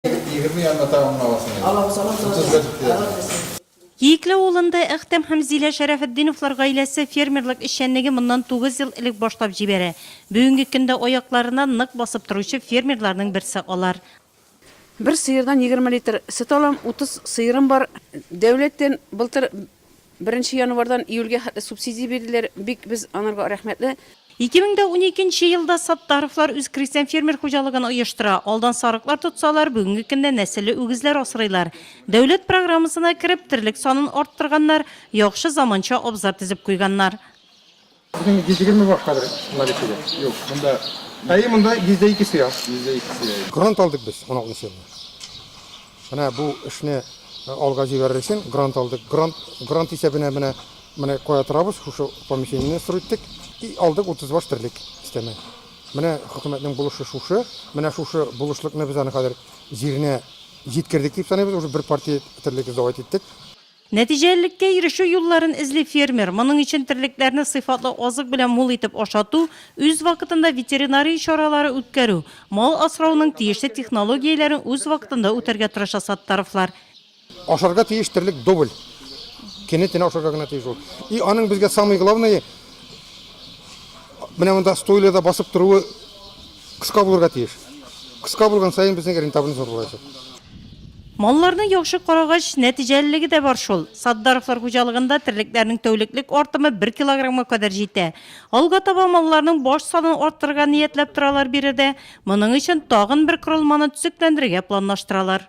Егерме янына тагын гына аласың инде. Алабыз, алабыз, алабыз. Утыз бер килә. Алабыз, алабыз. Иекле авылында Әхтәм һәм Зилә Шәрәфетдиновлар гаиләсе фермерлык эшчәнлеге моннан тугыз ел элек башлап җибәрә. Бүгенге көндә аякларына нык басып торучы фермерларның берсе алар. Бер сыердан егерме литр сөт алам, утыз сыерым бар. Дәүләттән былтыр Беренче январьдан июльгә хәтле субсидия бирделәр, бик без анарга рәхмәтле. Ике мең дә уникенче елда Саттаровлар үз крестьян-фермер хуҗалыгын оештыра, алдан сарыклар тотсалар, бүгенге көндә нәселле үгезләр асрыйлар. Дәүләт программасына кереп, терлек санын арттырганнар, яхшы заманча абзар төзеп куйганнар. Безнең җидегерме баш хәзер наличиедә. Юк, монда. Әйе, монда йөз дә ике сыя. Йөз дә ике сыя. Грант алдык без уналтынчы елны. Менә бу эшне алга җибәрер өчен грант алдык. Грант, грант исәбенә менә, менә кая торабыз, шушы помещениене строить иттек. И алдык утыз баш терлек өстәмә. Менә хөкүмәтнең булышы шушы. Менә шушы булышлыкны без аны хәзер җиренә җиткердек дип саныйбыз. Уже бер партия терлек сдавать иттек. Нәтиҗәлелеккә ирешү юлларын эзли фермер. Моның өчен терлекләрне сыйфатлы азык белән мул итеп ашату, үз вакытында ветеринария чаралары үткәрү, мал асрауның тиешле технологияләрен үз вакытында үтәргә тырыша Саттаровлар. Ашарга тиеш терлек дубль кене тенә ашарга гына тиеш ул. И аның безгә самый главное менә монда стойледа басып торуы. Кыска булырга тиеш. Кыска булган саен безнең рентабельность зур булачак. Малларны яхшы карагач, нәтиҗәлелеге дә бар шул. Сатдаровлар хуҗалыгында терлекләрнең тәүлеклек артымы бер килограммга кадәр җитә. Алга таба малларның баш санын арттырырга ниятләп торалар биредә. Моның өчен тагын бер корылманы төзекләндерергә планлаштыралар.